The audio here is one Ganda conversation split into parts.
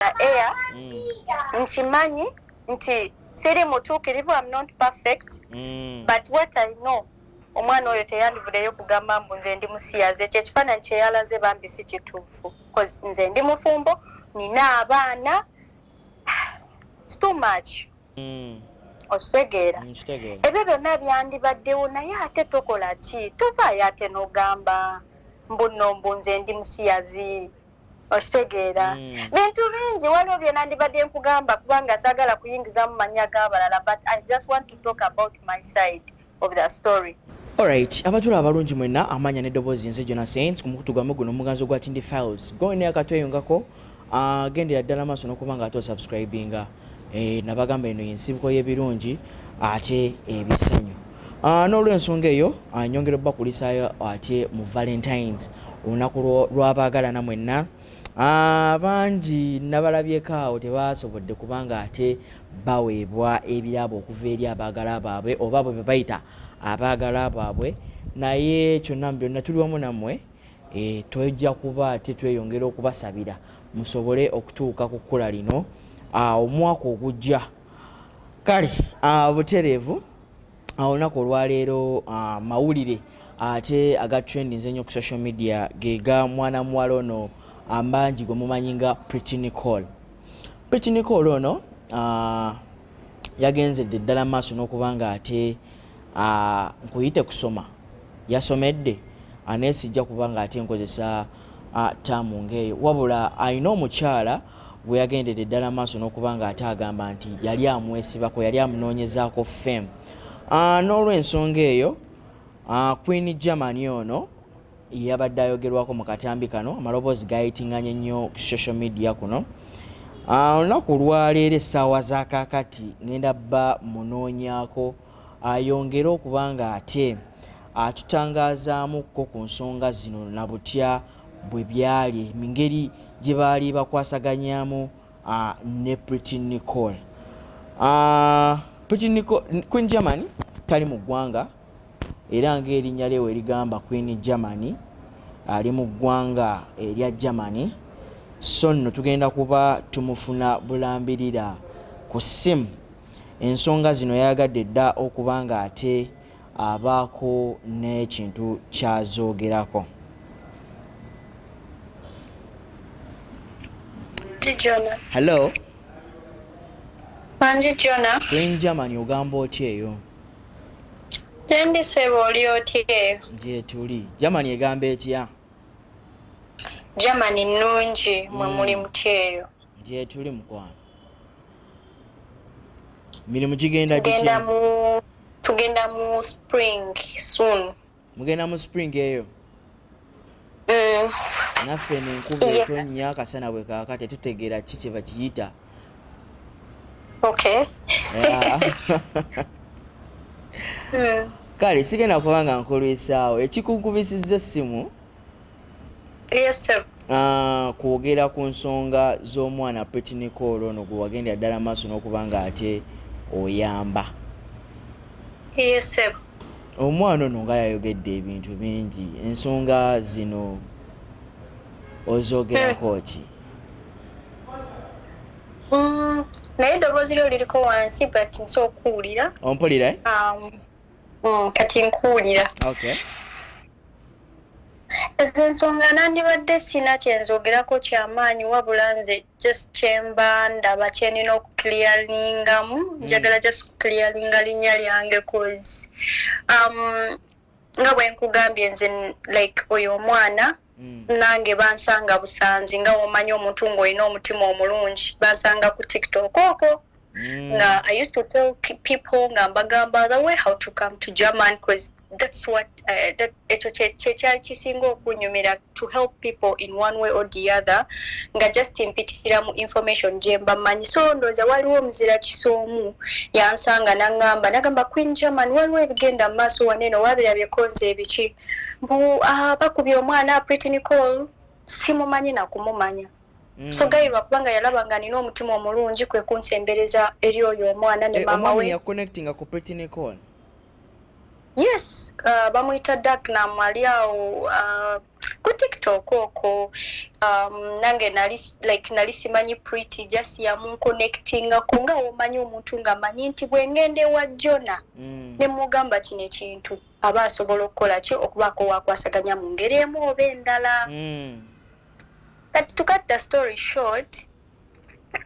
the air mm. nkimanyi nti siri mutuukirivu am not perfect mm. but what i know omwana oyo teyandivudeyo kugamba mbu nze ndi musiyazi ekyo ekifaananyi kyeyalaze bambi si kituufu bcause nze ndi mufumbo nina abaana its too much mm. okitegeera mm, ebyo byonna byandibaddewo naye ate tokola ki tovaayo ate nogamba mbuno mbu nze ndi musiyazi okitegeera mm. bintu bingi waliwo byenandibadde nkugamba kubanga sagala kuyingizamu manya g'abalala but i just want to talk about my side of the story Alright, abatula abalungi mwena amanya ne dobozi nze Jonah Saints ku mukutu gwamu guno omuganzi ogwa Tindi Files. Go in there katweyungako, uh, ah, gendera ddala maaso n'okuba nga ate osubscribinga. Eh, nabagamba eno yensibuko y'ebirungi ate ebisanyu ah, n'olwensonga eyo ah, nyongera obubakulisaayo ate mu valentines olunaku lwabaagalana mwenna ah, bangi nabalabyeko awo tebasobodde kubanga ate baweebwa ebirabo okuva eri abaagala baabwe oba bwe bebayita abaagala baabwe naye kyonna mu byonna tuli wamu nammwe e, twejja kuba ate tweyongera okubasabira musobole okutuuka ku kkula lino omwaka ogujja kale butereevu olunaku olwaleero mawulire ate aga trending zenyo ku social media gega mwana muwala ono ambangi gwe mumanyi nga pretty nicole pretty nicole ono yagenzedde ddala maaso n'okuba nga ate ah, nkuyite kusoma yasomedde anesijja kuba nga ate nkozesa ah, taamu ngaeyo wabula alina omukyala gwe yagendedde eddala maaso n'okuba nga ate agamba nti yali amwesibako yali amunoonyezaako fame ah, n'olwensonga eyo queen germany ono yabadde ayogerwako mu katambi kano amaloboozi gayitinganye nnyo ku social media kuno ah, olunaku olwaleero essaawa za kakati ngenda bba munoonyako ayongere okuba nga ate atutangazaamukko ku nsonga zino na butya bwe byali mu ngeri gye baali bakwasaganyamu ah, ne pretty nicole ah, pretty nicole queen germany tali mu ggwanga era ng'erinnya lye we ligamba Queen Germany ali mu ggwanga erya Germany so nno tugenda kuba tumufuna bulambirira ku ssimu ensonga zino yayagadde dda okuba ng'ate abaako n'ekintu kyazoogerako hello bangi jona queen germany ogamba otya eyo Endi sebo oli otya eyo? Gyetuli. Germany egamba etya? Germany nnungi mwe mm. muli mutya eyo? Gyetuli mukwano. Mirimu gigenda gitya? Tugenda mu spring soon. mugenda mu spring eyo mm. naffe nenkuba etonnya akasana bwe kaaka tetutegeera ki kye bakiyita okay kale sigenda kuba nga nkulwisaawo ekikunkubisiza essimu Yes, sir. Uh, kwogera ku nsonga z'omwana petinikoolo ono gwe wagendera ddala maaso n'okuba nga ate oyamba yes, sir. omwana ono nga yayogedde ebintu bingi ensonga zino ozogerako hmm. ki hmm, naye eddoboozi lyo liriko wansi but nsi okuwulira ompulira eh? um, hmm, kati nkuwulira okay. ezo ensonga nandibadde sina kyenzogerako kyamaanyi wabula nze just kyemba ndaba kyenina okuclearingamu hmm. njagala just kuclearinga linnya lyange cause um, nga bwenkugambye nze like oyo omwana hmm. nange bansanga busanzi nga womanyi omuntu ngaolina omutima omulungi bansanga ku tiktok oko Mm. Now, I used to tell people ngambagamba the way how to come to German because that's what uh, that to help people in one way or the other nga just mpitira mu information jemba manyi so ndoza waliwo mzira kisomu yansanga nangamba nagamba Queen German waliwo ebigenda maso waneno wabira bye konze ebichi mbu uh, bakubye omwana Pretty Nicole simumanyi na kumumanya Mm. so gayirwa kubanga yalaba nga nina omutima omulungi kwe kunsembereza eri oyo omwana ne eh, maama we yes uh, bamuyita dagnam ali awo uh, ku tiktok oko um, nange nali like nali simanyi pretty just yamunkonectingako nga womanyi omuntu nga manyi nti bwengenda ewa jona mm. nemugamba kino ekintu aba asobola okukola ki okubaako wakwasaganya mu ngeri emu oba endala mm. kati to cut the story short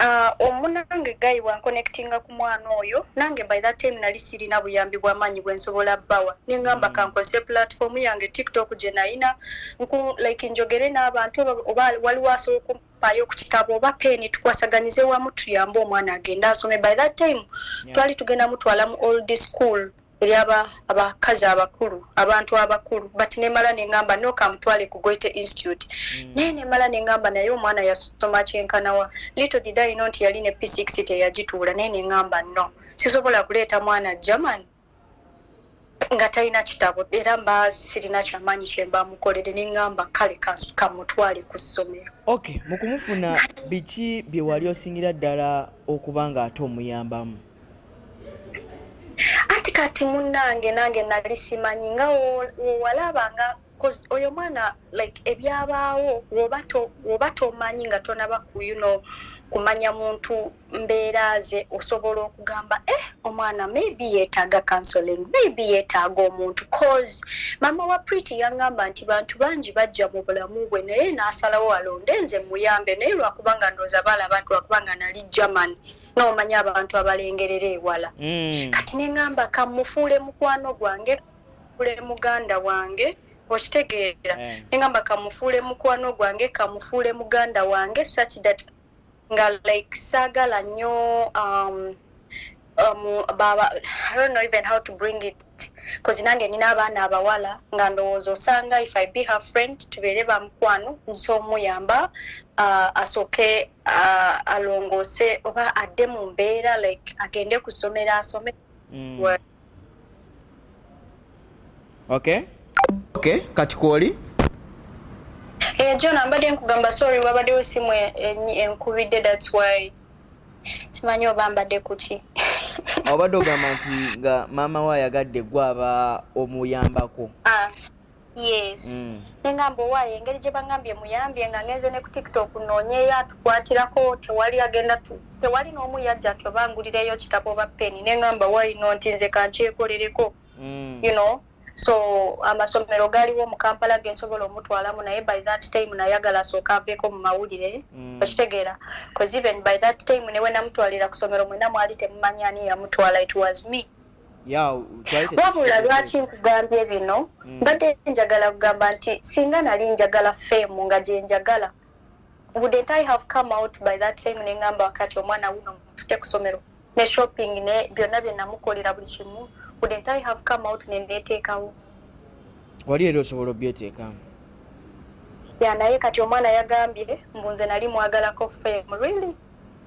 uh, omunange guy wanconnectinga ku mwana oyo nange by that time nali sirina buyambi bwamaanyi bwensobola bawa nengamba mm. kankozese platform yange tiktok gye nayina nku like njogere n'abantu oba waliwo asobola okumpaayo ku kitabo oba peeni tukwasaganize wamu tuyambe omwana agende asome by that time yeah. twali tugenda mutwala mu old school eri aba abakazi abakulu abantu abakulu but nemala nengamba noka mutwale ku goite institute mm. naye nemala nengamba naye omwana yasoma kyenkanawa little did i know nti yali ne p6 teyagituula naye nengamba no sisobola kuleeta mwana german nga talina kitabo era mba sirina kyamaanyi kyemba mukolere nengamba kale kamutwale ku ssomero ok mukumufuna biki byewali osingira ddala okuba nga ate omuyambamu anti kati munnange nange nali simanyi nga wowalaba nga oyo mwana like ebyabaawo woba tomanyi nga tonaba kuyuno kumanya muntu mbeera ze osobola okugamba e eh, omwana maybe yetaaga counseling maybe yetaaga omuntu cause mama wa priti yangamba nti bantu bangi bajja mu bulamu bwe naye nasalawo alonde nze muyambe naye lwakubanga ndooza baalaba nti lwakubanga nali germany nomanyi abantu abalengerera ewala mm. kati neŋamba kamufuule mukwano gwange kamufuule muganda wange okitegeera eh. neŋamba kamufuule mukwano gwange kamufuule muganda wange such that nga like saagala nnyo um, um, baba i don't know even how to bring it bcause nange nina abaana abawala nga ndowooza osanga if i be her friend tubeere bamukwano nsoomuyamba uh, asooke uh, alongoose oba adde mu mbeera like agende ku ssomero asome mm. okay okay kati kwoli Hey, eh, John, ambade nkugamba sorry wabade osimu enkubide that's why simanyi oba mbadde kuki obadde ogamba nti nga maama we ayagadde gwe aba omuyambako ah. yes mm. nengamba owaayo engeri gye bagambye muyambye nga ngenze ne ku tiktok noonyeyo atukwatirako tewali agenda tewali n'omu yajja tobangulirayo kitabo oba peni nengamba wayino nti nze kankyekolereko mm. you know so amasomero galiwo mu kampala gensobola omutwalamu naye by that time nayagala asooka aveeko mu mawulire mm. okitegeera bcause even by that time newenamutwalira ku somero mwena mwali temumanyi ani yamutwala it was me wabula lwaki nkugambye bino hmm. mbadde njagala kugamba nti singa nali njagala femu nga gyenjagala wouldn't i have come out by that time nengamba wakati omwana wuno mutute kusomero ne shopping ne byonna byenamukolera buli kimu wouldn't i have come out neneteekawo wali era osobola obyeteekamu ya naye kati omwana yagambye mbu nze nali mwagalako femu really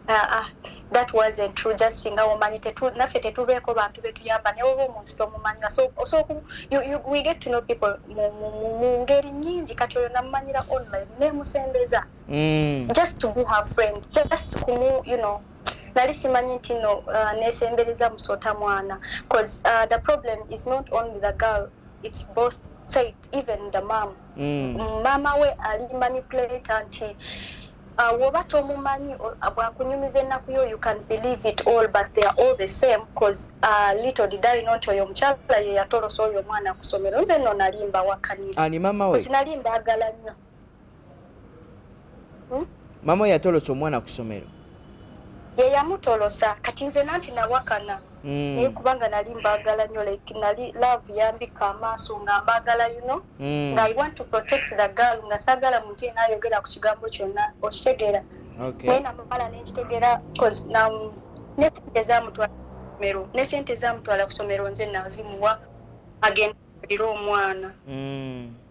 ah, ah, that wasn't true just singa womanyi tetu, naffe tetubeeko bantu betuyamba naye oba omuntu tomumanyira so, so you, you, we get to know people mu ngeri nyingi kati oyo namumanyira online nemusembeza mm. just to be her friend just kumu you know nali simanyi nti no uh, nesembereza musota mwana bcause uh, the problem is not only the girl it's both side even the mom mm. mama we ali manipulate nti uh, woba tomumanyi bwakunyumiza ennaku yo you can believe it all but they are all the same bcause uh, little did i not oyo omukyala ye yatolosa oyo omwana kusomero nze no nalimba wakanira nali mbaagala nnyo hmm? mama we yatolosa omwana ku ssomero ye yamutolosa kati nze nanti nawakana hmm. naye kubanga nali mbagala nyo like nali love yambika amaaso nga mbagala yuno hmm. nga i want to protect the girl nga sagala muntu yena ayogera ku kigambo kyonna okitegeera naye namala nenkitegeera bcause nesente zamutwala kusomero nesente zamutwala kusomero nze nazimuwa agenda alire omwana hmm.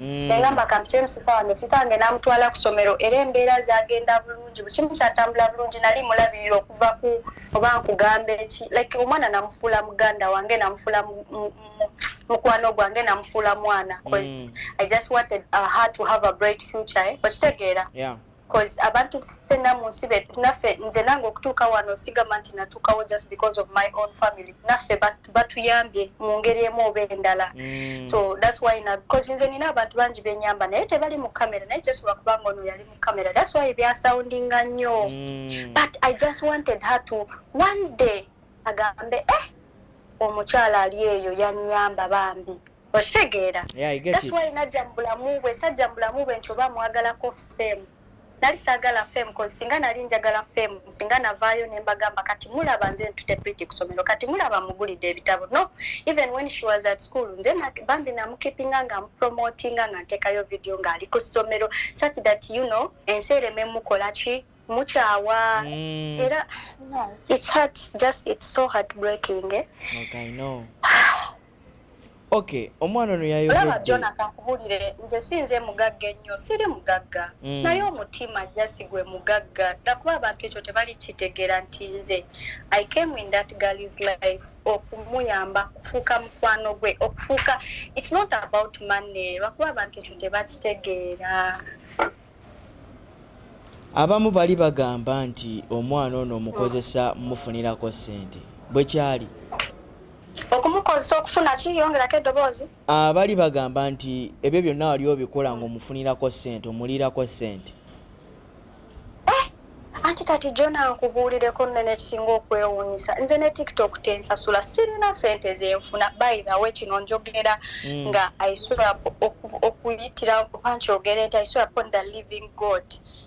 Mm. nengamba kampitemu sista wange sista wange namutwala ku somero era embeera zagenda bulungi buli kimu kyatambula bulungi nali mulabirira okuva ku oba nkugambe ki like omwana namufuula muganda wange namufuula mukwano gwange namufuula mwana mm. i just wanted uh, her to have a bright future eh? okitegeera cause abantu ffenna mu nsi betu naffe nze nange okutuuka wano sigamba nti natuukawo just because of my own family naffe batuyambye mu ngeri emu oba endala mm. so thats why bcause nze nina abantu bangi benyamba naye tebali mu kamera naye just lwakubanga ono yali mu kamera thats why byasoundinga nnyo mm. but i just wanted her to one day agambe eh omukyala ali eyo yanyamba bambi okitegeera that's why najja mu bulamu bwe sajja mu bulamu bwe nti oba amwagalako fame nali saagala fame cause singa nali njagala fame singa navaayo ne mbagamba kati mulaba nze ntute pretty kusomero kati mulaba mugulidde ebitabo no even when she was at school nze bambi namukipinga nga mupromotinga nga nteekayo video ng'ali ku ssomero such that you know ensi ereme mukola ki mukyawa mm. era it's hard just it's so heartbreaking eh? okay, no. Okay, omwana ono yayogedde. Olaba Jona kankubulire nze sinze mugagga ennyo siri mugagga mm. naye omutima jasi gwe mugagga dakuba abantu ekyo tebali kitegera nti nze I came in that girl's life okumuyamba kufuuka mukwano gwe okufuuka it's not about money lwakuba abantu ekyo tebakitegeera Abamu bali bagamba nti omwana ono omukozesa mufunirako ssente. Bwe kyali? Okumukozesa okufuna ki? Yongerako eddoboozi. Ah, bali bagamba nti ebyo byonna wali obikola ng'omufunirako ssente, omuliirako ssente. anti kati jona nkubuulireko nno nekisinga okwewuunyisa nze ne tiktok tensasula sirina sente zenfuna by the way kino njogera mm. nga isura okuyitira oba nkyogere nti isura upon the living god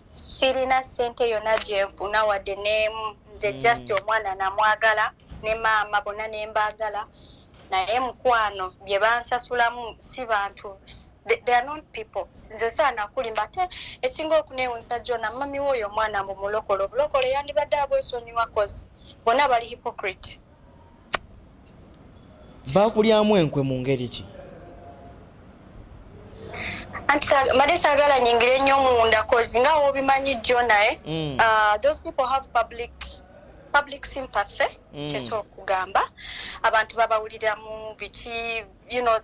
sirina sente yona gyenfuna wadde nemu nze mm. just omwana namwagala ne maama bona nembaagala naye mukwano bye bansasulamu si bantu they are not people nze saana kulimba ate esinga okunewunsa jona mami woyo omwana mbu mulokole obulokole yandibadde abwesonyiwa kozi bona bali hypocrite bakulyamu enkwe mu ngeri ki anti made sagala nyingire nnyo munda kozi nga wobimanyi jjo naye eh? mm. uh, those people have public public sympathy mm. kyekyo okugamba abantu babawuliramu biki you know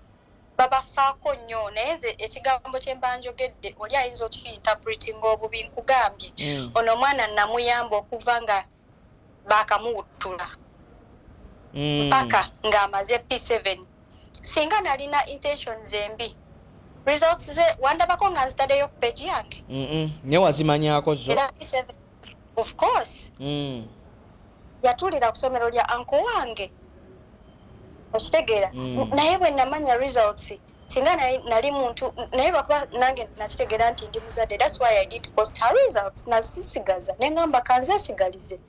babafaako nnyo naye nze ekigambo kye mba njogedde oli ayinza okiyintapretinga obubi nkugambye mm. ono omwana namuyamba okuva nga baakamuwuttula mm. mpaka ng'amaze p seven singa nalina intentions embi results ze wandabako nga nzitadeyo ku peji yange naye wazimanyako zo of course mm. yatulira ku somero lya anko wange okitegeera mm. naye bwe namanya results singa nali muntu naye lwakuba nange nakitegeera nti ndi muzadde thats why i did post her results nazisigaza ne ngamba kanzesigalize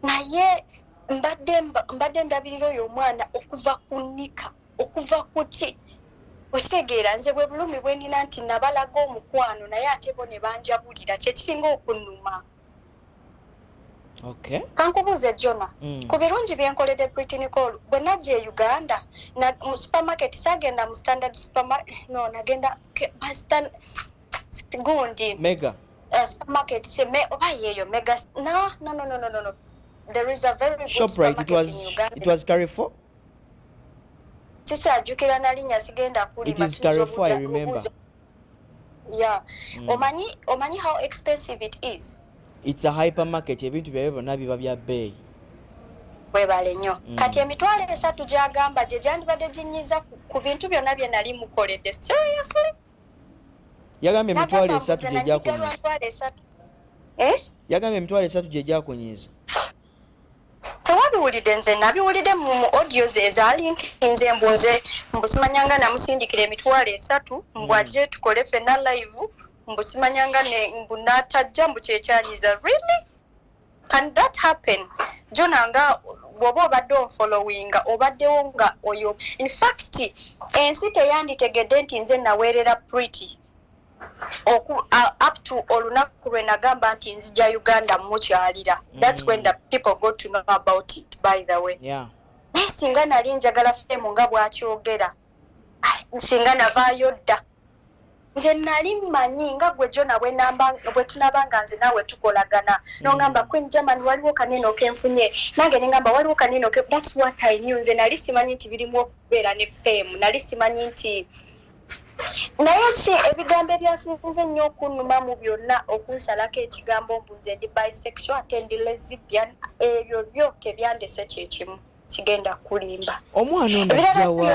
naye mbadde mbadde ndabirira oyo omwana okuva ku nika okuva kuki okitegeera nze bwe bulumi bwenina nti nabalaga omukwano naye ate bo ne banjabulira kyekisinga okunuma okay. kankubuuze jona mm. ku birungi byenkolede britain call bwe najja e uganda na, mu supermarket sagenda mu standard supermarket no nagenda gundi mega uh, supermarket me, oba yeeyo mega no, no, no, no, no, no. there is a very good Shoprite, supermarket it was, in uganda it was carrefour sikyajjukira nalinya sigenda kulima yeah mm. omanyi omanyi how expensive it is it's a hypermarket ebintu byabyo byonna biba bya bbeeyi webale nnyo mm. kati emitwalo esatu gyagamba gye gyandibadde ginyiza ku bintu byonna bye nali mukoledde seriously yagambye emitwalo esatu gye gyakunyiza eh? yagambye emitwalo esatu gye gyakunyiza tewabiwulidde nze nabiwulidde mu audio ze ezalinkinze mbu nze mbusimanyanga namusindikira emitwalo esatu mbwaje hmm. tukole fena live mbusimanyanga mbu natajja mbu kyekyanyiza really can that happen jona nga bwoba obadde onfollowinga obaddewo nga oyo infact ensi teyanditegedde nti nze naweerera pretty oku uh, up to olunaku lwe nagamba nti nzija uganda mukyalira mm. that's when the people go to know about it by the way yeah. naye singa nali njagala femu nga bwakyogera nsinga navaayo dda nze nali mmanyi nga gwe jona bwe tunaba nga nze naawe tukolagana mm. nongamba queen german waliwo kanene okenfunye nange nengamba waliwo kanene oke that's what i new nze nali simanyi nti birimu okubeera ne femu nali simanyi nti naye ki ebigambo ebyasinze nnyo okunnuma mu byonna okunsalako ekigambo mbu nze ndi bisexual ate ndi lesbian ebyo byo tebyandese kyekimu kigenda kulimba omwana ono ajjawa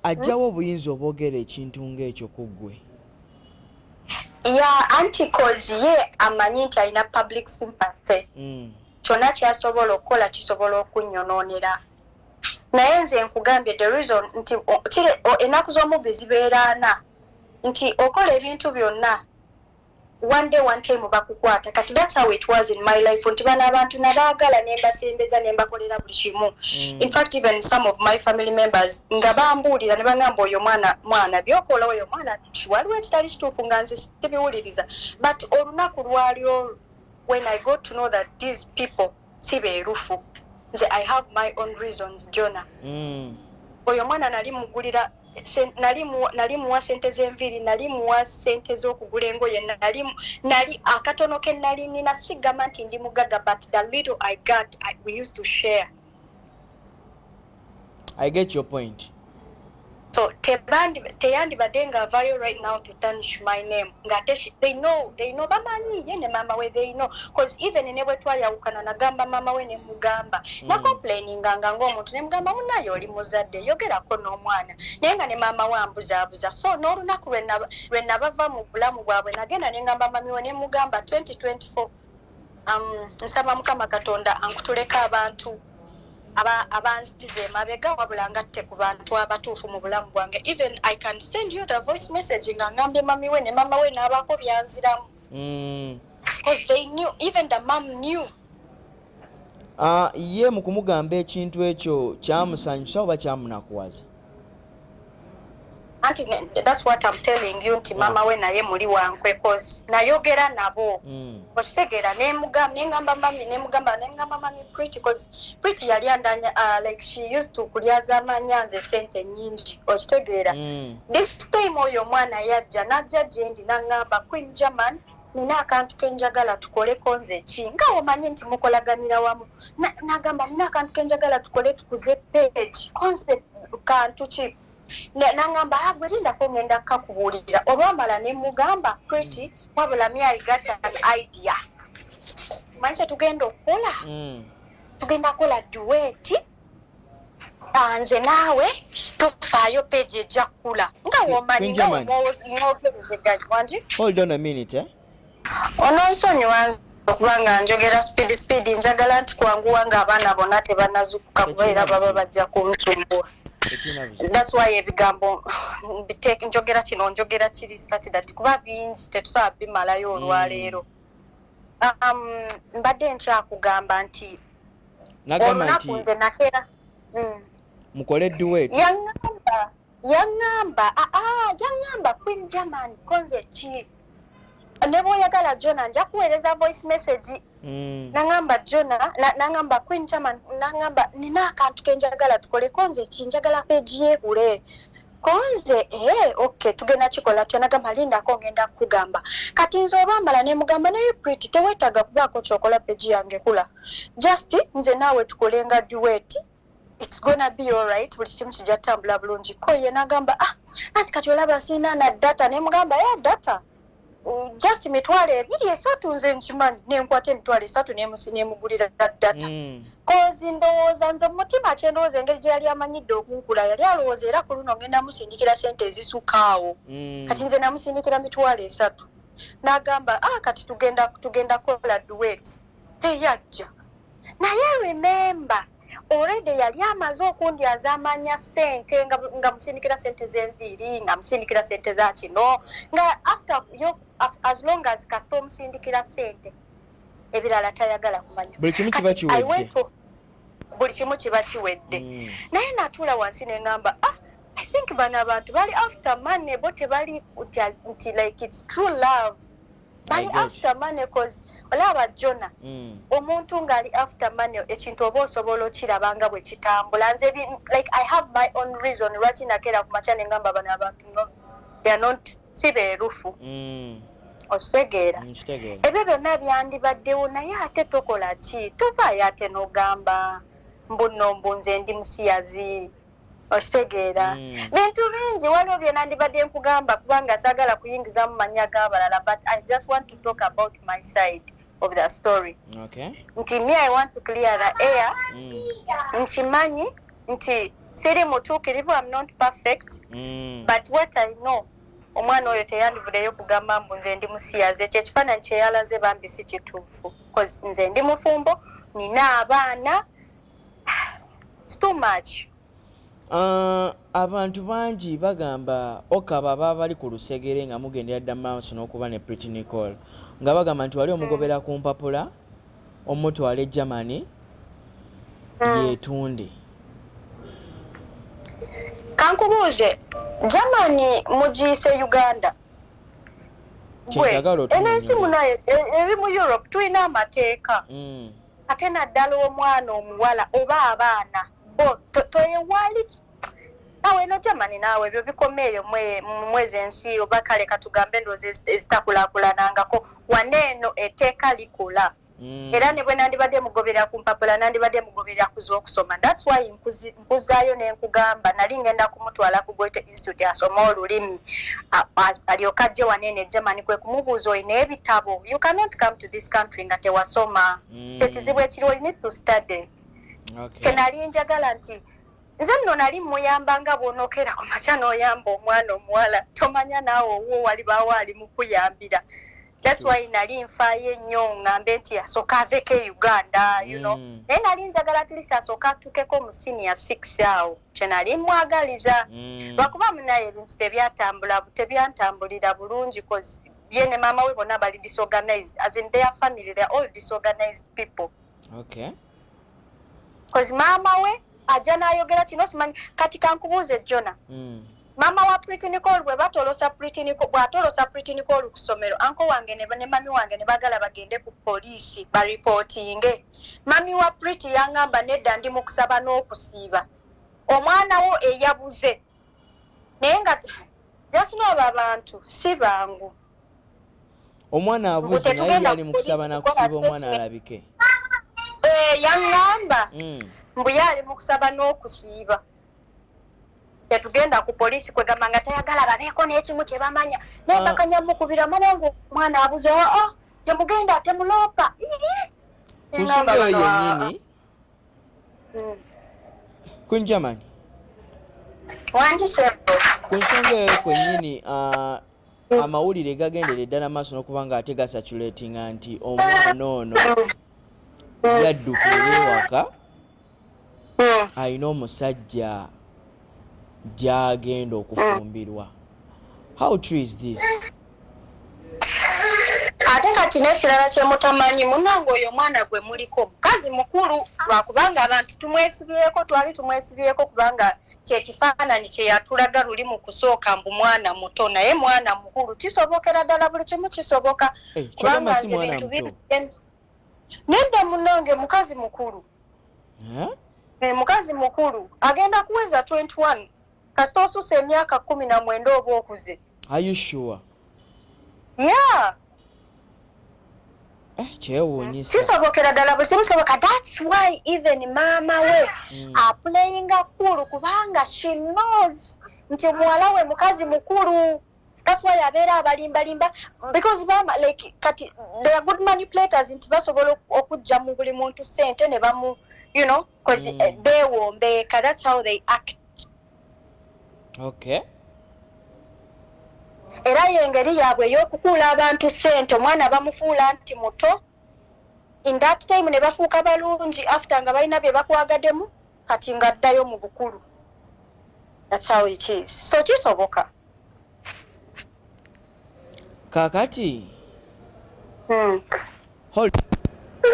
ajjawo obuyinza obwogera ekintu ng'ekyo ku ggwe ya anti cause ye amanyi nti alina public sympathy mm. kyonna kyasobola okukola kisobola okunyonoonera naye nze nkugambye the reason nti kire enaku z'omubbi zibeera ana nti okola ebintu byonna one day one time bakukwata kati that's how it was in my life nti bano abantu nabaagala nembasembeza nembakolera buli kimu mm. in fact even some of my family members nga bambuulira ne bangamba oyo mwana mwana byokola oyo mwana waliwo ekitali kituufu nga nze sibiwuliriza but olunaku lwali olwo when i got to know that these people si beerufu nze i have my own reasons jona mm. oyo omwana nali mugulira nali muwa sente zenviiri nali muwa sente zokugula engoye nali akatono ke nali nina sigamba nti ndi mugaga but the little i got I, we used to share i get your point so tebandi teyandibadde nga avayo right now to tanish my name nga ate they know they know bamanyi ye ne mama we they know cause even ne bwe twayawukana nagamba mama we ne mugamba mm. na complaining nga nga omuntu ne mugamba munaye oli muzadde yogerako n'omwana naye nga ne mama we ambuzaabuza so n'olunaku lwe nabava mu bulamu bwabwe nagenda ne ngamba mami we ne mugamba 2024 Um, nsaba mukama katonda ankutuleko abantu abanziza emabega wabula ngatte ku bantu abatuufu mu bulamu bwange even i can send you the voice message nga ngambye mami we ne mama we n'abaako byanziramu mm. because they knew even the mom knew ah, ye mu kumugamba ekintu ekyo kyamusanyusa oba kyamunakuwaza anti that's what I'm telling you nti mama we naye muli wankwe cause nayogera nabo mm. okitegeera nemugamba nengamba mami nemugamba nemugamba mami pretty cause pretty yali andanya uh, like she used to kulyazamanya nze sente nyingi okitegeera mm. this time oyo omwana yajja najja gyendi nangamba queen german mm. nina akantu kenjagala tukoleko nze ki nga omanyi nti mukolaganira wamu nagamba nina akantu kenjagala tukole tukuze page konze kantu ki nangamba ah, gwe lindako ngenda kukakubuulira olwamala ne mugamba preti wabula mi i got an idea manyi kyetugenda okukola mm. tugenda kukola duweti ah, nze naawe tofaayo peegi ejja kkula nga womanyi nga omwogerezeganywangi hold on a minute eh? ononsonyiwa okuba nga njogera speed speed njagala nti kwanguwa nga abaana bona tebanazukuka kuba era baba bajja kunsumbuwa thats why ebigambo njogera kino njogera kiri satidati kuba bingi tetusaba bimalayo olwaleero mm. um, mbadde nkyakugamba nti nagamba nti nze nakera mm. mukole duet yangamba yangamba aa ah, ah, yangamba queen german konze ki ne bwoyagala jona nja kuweereza voice message mm. nangamba jona nangamba na queen german nangamba nina akantu kenjagala tukole konze ki njagala peji yehule konze ee eh, ok tugenda kikola tya nagamba lindako ngenda kukugamba kati nze olwamala nemugamba naye prit tewetaaga kubaako kyokola peji yange kula just nze naawe tukole nga duet its gonna be alright buli kimu kijja tutambula bulungi ko ye nagamba ah anti kati olaba siina na data nemugamba ya data just mitwalo ebiri esatu nze nkimanyi nenkwata emitwalo esatu nemusi nemugulira data kozi mm. ndowooza nze mumutima kyendowooza engeri gyeyali amanyidde okunkula yali alowooza era ku luno ngenda musindikira sente ezisukaawo mm. kati nze namusindikira mitwalo esatu nagamba a ah, kati tugenda tugenda kukola duet teyajja naye remember already yali amaze okundyaza amanya sente nga musindikira sente zenviiri nga musindikira sente za kino nga after yo as long as kasita omusindikira sente ebirala tayagala kumanya buli kimu kiba kiwedde buli kimu kiba kiwedde mm. naye natuula wansi nengamba ah i think bano abantu bali after money bo tebali nti like its true love bali after money cause olaba jona mm. omuntu ngali after money ekintu oba osobola okiraba nga bwe kitambula nze like i have my own reason lwaki nakeera ku makya nengamba bano abantu no they are not si beerufu mm. okitegeera mm, ebyo byonna byandibaddewo naye ate tokola ki tovaayo ate nogamba mbuno mbunze ndi musiyazi okitegeera mm. bintu bingi waliwo byenandibadde nkugamba kubanga sagala kuyingizamu manya g'abalala but i just want to talk about my side of the story okay. nti me i want to clear the air mm. nkimanyi nti siri mutuukirivu am not perfect mm. but what i know omwana oyo teyandivudeyo kugamba mbu nze ndi musiyaze ekyo ekifaananyi kyeyalaze bambi si kituufu nze ndi mufumbo nina abaana It's too much. Uh, abantu bangi bagamba okaba baba bali ku lusegere nga mugendera dda maaso n'okuba ne Pretty Nicole nga bagamba nti wali omugobera ku mpapula omutwala e Germany hmm. yeetunde kankubuuze Germany mugiyise Uganda gwe enensi muno e, e, eri mu Europe tulina amateeka mm. ate naddala omwana omuwala oba abaana bo toyewali awo eno jamani naawe ebyo bikoma eyo mwezi ensi oba kale katugambe endowooza ezitakulakulanangako wane eno eteeka likola mm. era ne bwe nandibadde mugoberera ku mpapula nandibadde mugoberera ku z'okusoma thats why nkuzi Nkuzzaayo ne nkugamba nali ngenda kumutwala ku Goethe Institute asome olulimi alyoke ajje wano eno e Germany kwe kumubuuza olina ebitabo you cannot come to this country nga tewasoma mm. kye kizibu ekiriwo you need to study okay. kye nali njagala nti nze nno nali muyamba nga bwonokeera ku makya n'oyamba omwana omuwala tomanya naawe owuwo walibaawo ali mukuyambira that's why nali nfaayo ennyo ŋŋambe nti asooka aveeko e uganda you know mm. naye nali njagala atlist asooka atukeko mu senior six awo kye nali mwagaliza mm. lwakuba munaye ebintu tebyatambula tebyantambulira bulungi bcause ye ne maama we bonna bali disorganized as in their family they're all disorganized people okay. kozi maama we ajja n'ayogera kino simanyi kati kankubuuze jona hmm. maama wa pritinicol bwe batolosa bw'atolosa pritinicol ku ssomero anko wange ne mami wange ne bagala bagende ku poliisi baripootinge mami wa priti yangamba nedda ndi mu kusaba n'okusiiba omwana wo eyabuze naye nga jasinoaba abantu si bangu omwana abuze naye yali mu kusaba nakusiiba omwana alabike eh, yaŋŋamba hmm. mbu ye ali mu kusaba n'okusiiba tetugenda ku poliisi kwegamba nga tayagala babeeko n'ekimu kye bamanya naye ah. bakanyamukubira mwanangu omwana abuze oo oh, oh, temugenda temuloopa ku nsonga eyo yennyini hmm. Queen German ku nsonga eyo kwennyini uh, hmm. amawulire gagendere ddala maaso n'okuba nga ate gasaculatinga nti omwana ono hmm. yadduka ewaka alina omusajja gyagenda okufumbirwa how true is this ate kati n'ekirala kyemutamanyi munange oyo omwana gwe muliko mukazi mukulu lwakubanga abantu tumwesibyeko twali tumwesibyeko kubanga kyekifaananyi kyeyatulaga luli mu kusooka mbu mwana muto naye mwana mukulu kisobokera ddala buli kimu kisoboka eh, kubanga nze bintu biri Nedda munange mukazi mukulu. Eh? Eh, mukazi mukulu agenda kuweza 21 kasita osusa emyaka kumi na mwenda oba okuze ayushuwa ya eh, kyewunyisa kisobokera ddala bwe kimusoboka thats why even maama we mm. aplayinga kulu kubanga she knows nti muwala we mukazi mukulu That's why abeera abalimba limba because bama like kati they are good manipulators nti basobola okujja mu buli muntu sente ne bamu you know cuz mm. Eh, bewombeeka that's how they act okay era yengeri yaabwe ey'okukuula abantu sente omwana bamufuula nti muto in that time ne bafuuka balungi after nga balina bye bakwagademu kati nga addayo mu bukulu that's how it is so kisoboka kakati hmm.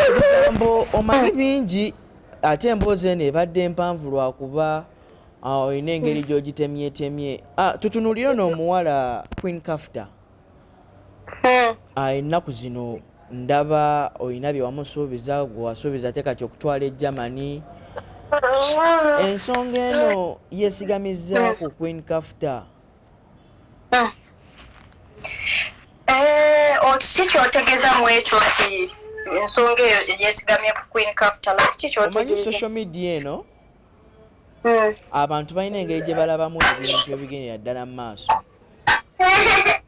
ebigambo omanyi hmm. bingi ate emboozi eno ebadde mpanvu lwakuba ah, olina engeri hmm. gyogitemyetemye ah, tutunulire noomuwala queen kafta hmm. ah, ennaku zino ndaba olina bye wamusuubiza gwe wasuubiza ate kati okutwala e germany hmm. ensonga eno yesigamiza ku queen kafta eh, okiki kyotegeza mu ekyo nti ensonga eyo yesigamye ku queen kafta kiki kyotegeza omanyi social media eno hmm. abantu balina engeri gye balabamu ebintu ebigendera ddala mu maaso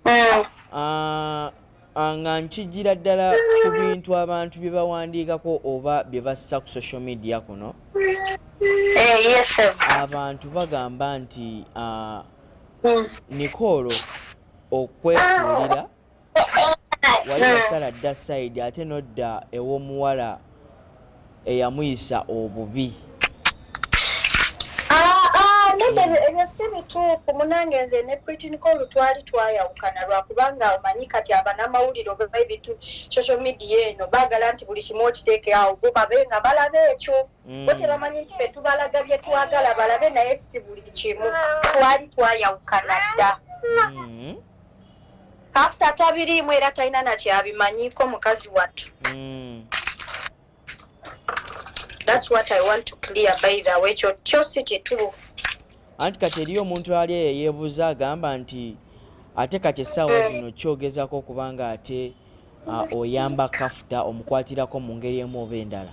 hmm. ah, ah, nga nkijjira ddala ku bintu abantu bye bawandiikako oba bye bassa ku social media kuno eh, abantu bagamba nti ah, hmm. nikoolo okwefuulira wali wasala dda sayidi ate nodda ew'omuwala eyamuyisa obubi nedda ebyo ebyo si bituufu munange nze ne pritinko olutwali twayawukana lwakubanga omanyi kati abanamawulire oba ebintu social media eno baagala nti buli kimu okiteeke awo bo babe nga balaba ekyo mm. bo tebamanyi nti fe tubalaga bye twagala balabe naye si buli kimu twali twayawukana dda mm. Pastor tabiriimu era talina nakyabimanyiko mukazi wattu. Mm. That's what I want to clear by the way kyo kyo si kituufu. Anti kati eriyo omuntu ali eyo yeebuuza agamba nti ate kati essaawa eh. zino kyogezaako okuba nga ate ah, oyamba kafuta omukwatirako mu ngeri emu oba endala.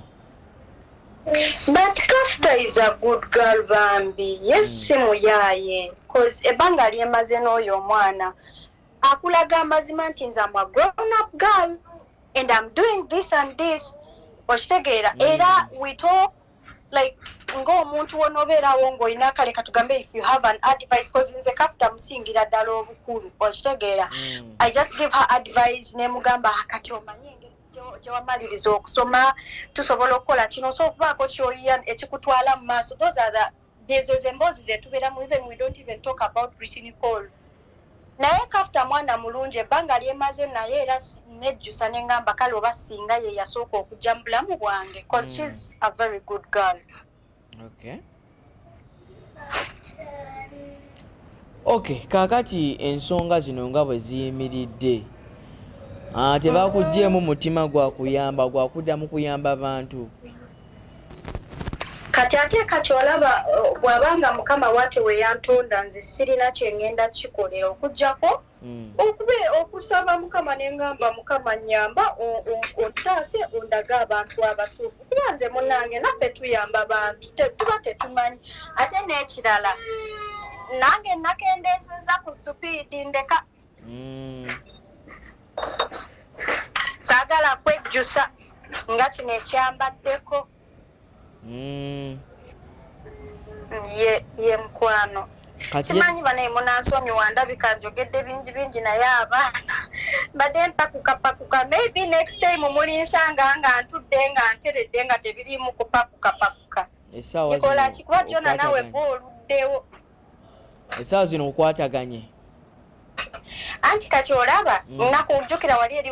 but kafta is a good girl bambi yes mm. simuyaye bcause ebanga lyemaze n'oyo omwana akulaga amazima nti nze ama grown up girl and im doing this and this okitegeera mm. era we talk like ng'omuntu wona obeerawo ng'olina kale katugambe if you have an advice bcause nze kafta musingira ddala obukulu okitegeera mm. i just give her advice nemugamba kati omanye engeri gyewamaliriza okusoma tusobola okukola kino osobola okubaako kyoyiya ekikutwala mu maaso those are the ezo zemboozi zetubeeramu even we don't even talk about britain call naye kafta mwana mulungi ebbanga lyemaze naye era nejjusa nengamba kale oba singa ye yasooka okujja mu bulamu bwange bcause mm. shes a very good girl okay. ok kakati ensonga zino nga bwe ziyimiridde ah, tebakugjeemu mutima gwa kuyamba gwa kudda mu kuyamba bantu kati ate kati olaba bw'abanga mukama wate weyantonda nze sirina kyengenda kikolera okujjako mm. okube okusaba mukama nengamba mukama nyamba ontaase ondaga abantu abatuufu kuba nze munange naffe tuyamba bantu tuba tetumanyi ate n'ekirala nange nakendeeseza ku supiidi ndeka mm. saagala kwejjusa nga kino ekyambaddeko mm. mm. ye ye mukwano simanyi banaye munansonyiwa ndabika njogedde bingi bingi naye abaana mbadde mpakukapakuka maybe next time mulinsanga nga ntudde nga nteredde nga tebiriimu kupakukapakuka ikola kikuba kyona nawe gwe oluddewo esaawa zino okwataganye anti kati olaba mm. nakujukira wali eri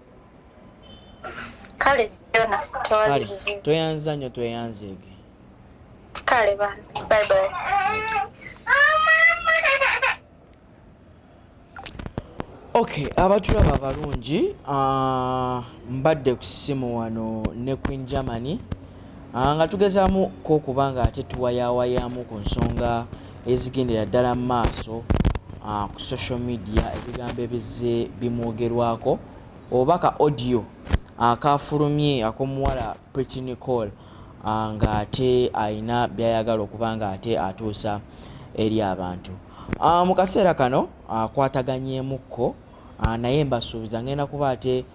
kale jona kale tweyanziza nnyo tweyanzeege kale bana bye bye okay abatulaba balungi uh, mbadde ku ssimu wano ne queen germany Ah, nga tugezaamu ko okuba nga ate tuwayawayaamu ku nsonga ezigendera ddala mu maaso ah, ku social media ebigambo ebizze bimwogerwako oba ka audio akafulumye ah, akomuwala pretty nicole nga ate alina byayagala okuba nga ate atuusa eri abantu mu kaseera kano akwataganyeemukko naye mbasuubiza ngenda kuba ate